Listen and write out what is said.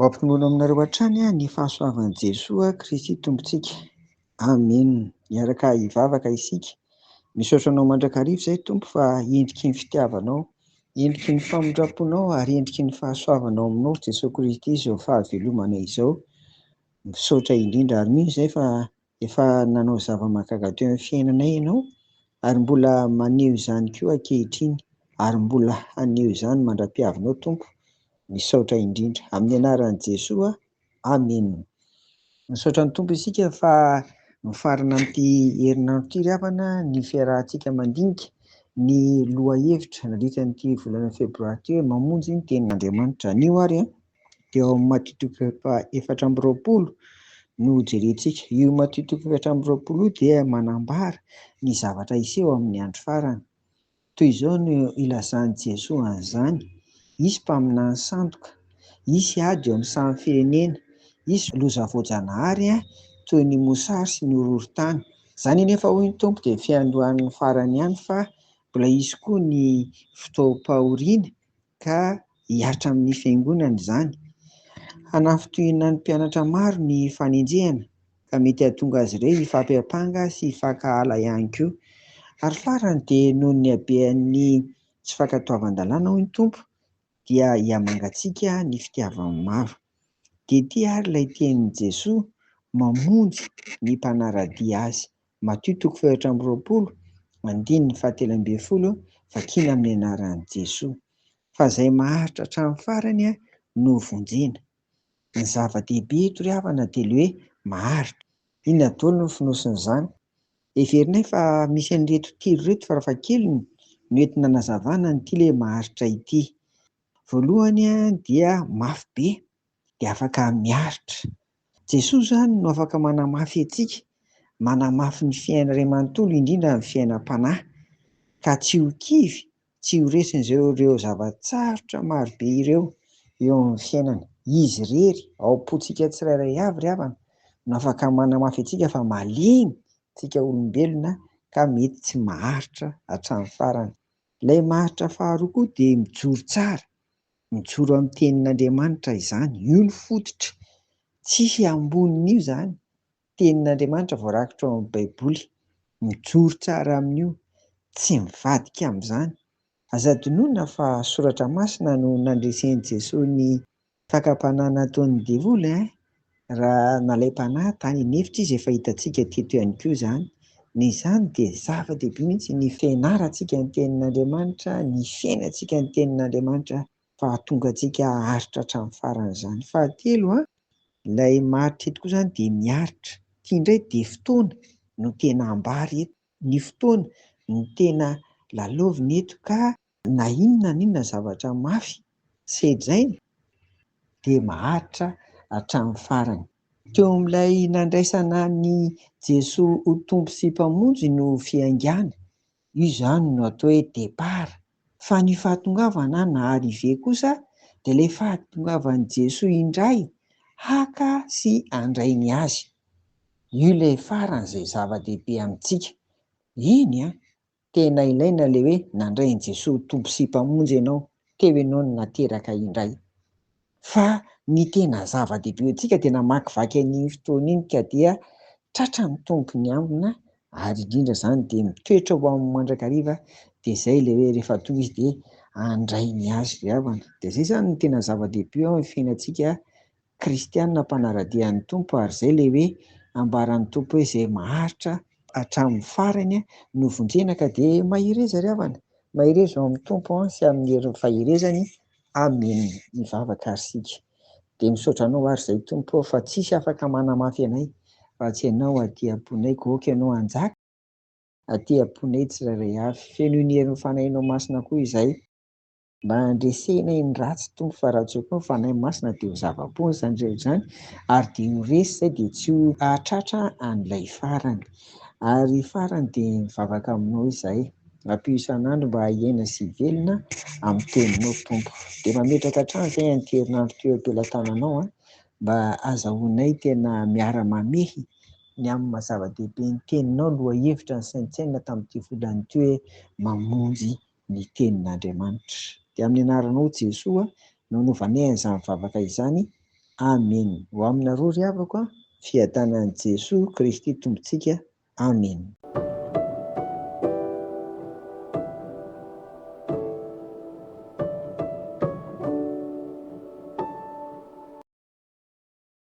Ho ampinono aminareo hatrany ny fahasoavan'i Jesoa Kristy Tompontsika. Amen. Miaraka hivavaka isika. Misaotra anao mandrakariva izay Tompo fa endriky ny fitiavanao, endriky ny famindramponao ary endriky ny fahasoavanao aminao Jesoa Kristy izao fahavelomana izao. Misaotra indrindra ary mino izay fa Efa nanao zava-mahagaga teo amin'ny fiainanay ianao, ary mbola maneho izany koa ankehitriny, ary mbola haneho izany mandra-piavinao, Tompo. Misaotra indrindra. Amin'ny anaran'i Jesoa. Amena. Misaotra ny Tompo isika fa mifarana amin'ity herinandro ity ry havana ny fiarahantsika mandinika ny lohahevitra nandritra an'ity volana febroary ity hoe Mamonjy ny Tenin'Andriamanitra. Anio ary an! dia ao amin'ny matiotiko efatra amby roapolo no hojerentsika. Io matiotiko efatra amby roapolo io dia manambara ny zavatra hiseho amin'ny andro farany. Toy izao no ilazan'i Jesoa an'izany, hisy mpaminany sandoka, hisy ady eo amin'ny samy firenena, hisy loza voajanahary toy ny mosary sy ny horohorontany. Izany anefa, hoy ny Tompo, dia fiandohan'ny farany ihany fa mbola hisy koa ny fotoam-pahoriana ka hihatra amin'ny Fiangonana izany. Hanafintohina ny mpianatra maro ny fanenjehana, ka mety hahatonga azy ireo hifampiampanga sy hifankahala ihany koa. Ary farany dia noho ny habean'ny tsy fankatoavan-dalàna, hoy ny Tompo, dia hihamangatsiaka ny fitiavan'ny maro. DT, Ary ilay tenin'i Jesoa mamonjy ny mpanara-dia Azy Matio toko fahefatra amby roapolo andininy fahatelo ambin'ny folo vakina amin'ny anaran'i Jesoa. Fa izay maharitra hatramin'ny farany no ho vonjena. Ny zava-dehibe eto ry havana dia ilay hoe maharitra. Inona daholo no fonosin'izany? Heverinay fa misy an'ireto telo ireto farafahakeliny no entina hanazavana an'ity ilay maharitra ity. Voalohany dia mafy be. dia afaka miaritra. Jesoa izany no afaka manamafy antsika, manamafy ny fiainana iray manontolo indrindra ny fiainam-panahy, ka tsy ho kivy, tsy ho resy izay ireo zava-tsarotra marobe ireo eo amin'ny fiainana. Izy irery, ao am-pontsika tsirairay avy ry havana, no afaka manamafy antsika fa malemy isika olombelona ka mety tsy maharitra hatramin'ny farany. Ilay maharitra faharoa koa dia mijoro tsara, Mijoro amin'ny tenin'Andriamanitra izany, io no fototra, tsisy ambonin'io izany, tenin'Andriamanitra voarakitra ao amin'ny baiboly, mijoro tsara amin'io, tsy mivadika amin'izany, aza adinoina fa soratra masina no nandresen'i Jesoa ny fakam-panahy nataon'ny devoly eh! Raha nalaim-panahy tany an'efitra izy efa hitantsika teto ihany koa izany. Noho izany dia zava-dehibe mihitsy ny fianarantsika ny tenin'Andriamanitra, ny fiainantsika ny tenin'Andriamanitra fa hahatonga antsika haharitra hatramin'ny farany izany. Fahatelo, ilay maharitra eto koa izany dia miaritra. Ity indray dia fotoana no tena ambara eto, ny fotoana no tena lalaovina eto ka Na inona na inona zavatra mafy sedraina dia maharitra hatramin'ny farany. Teo amin'ilay nandraisana an'i Jesoa ho Tompo sy Mpamonjy no fiaingàny. Io izany no atao hoe départ. Fa ny fahatongavana na arrivée kosa dia ilay fahatongavan'i Jesoa indray haka sy handray ny Azy. Io ilay faran'izay zava-dehibe amintsika. Eny an! Tena ilaina ilay hoe nandray an'i Jesoa ho Tompo sy Mpamonjy ianao teo ianao no nateraka indray. Fa ny tena zava-dehibe ho antsika dia namakivaky an'iny fotoana iny ka dia tratra ny Tompo ny ambina ary indrindra izany dia mitoetra ho amin'ny mandrakariva dia izay ilay hoe rehefa tonga Izy dia handray ny azy ry havana. Dia izay izany no tena zava-dehibe eo amin'ny fiainantsika kristiana mpanara-dia ny Tompo ary izay ilay hoe ambaran'ny Tompo hoe izay maharitra hatramin'ny farany no vonjena ka dia mahereza ry havana, mahereza ao amin'ny Tompo sy amin'ny herin'ny faherezany Amen mivavaka ary isika dia misaotra anao ary izay Tompo ô fa tsisy afaka manamafy anay raha tsy ianao aty amponay koa aoka ianao hanjaka aty amponay tsirairay avy fenoin'ny herin'ny fanahinao masina koa izahay mba handresena iny ratsy tony fa raha tsy eo koa ny Fanahy Masina dia ho zava-poana izany rehetra izany ary dia ho resy izay dia tsy ho hahatratra an'ilay farany. Ary farany dia mivavaka aminao izahay, ampio isan'andro mba hiaina sy hivelona amin'ny teninao Tompo. Dia mametraka hatrany izay an'ity herinandro ity eo am-pelatananao an, mba azahoanay tena miara-mamehy ny amin'ny maha-zava-dehibe ny teninao lohahevitra nisaintsainina tamin'ity volana ity hoe mamonjy ny tenin'Andriamanitra. Dia amin'ny anaranao Jesoa no anovanay an'izany vavaka izany. Amena. Ho aminareo ry havako an, fiadanan'i Jesoa Kristy Tompontsika. Amena.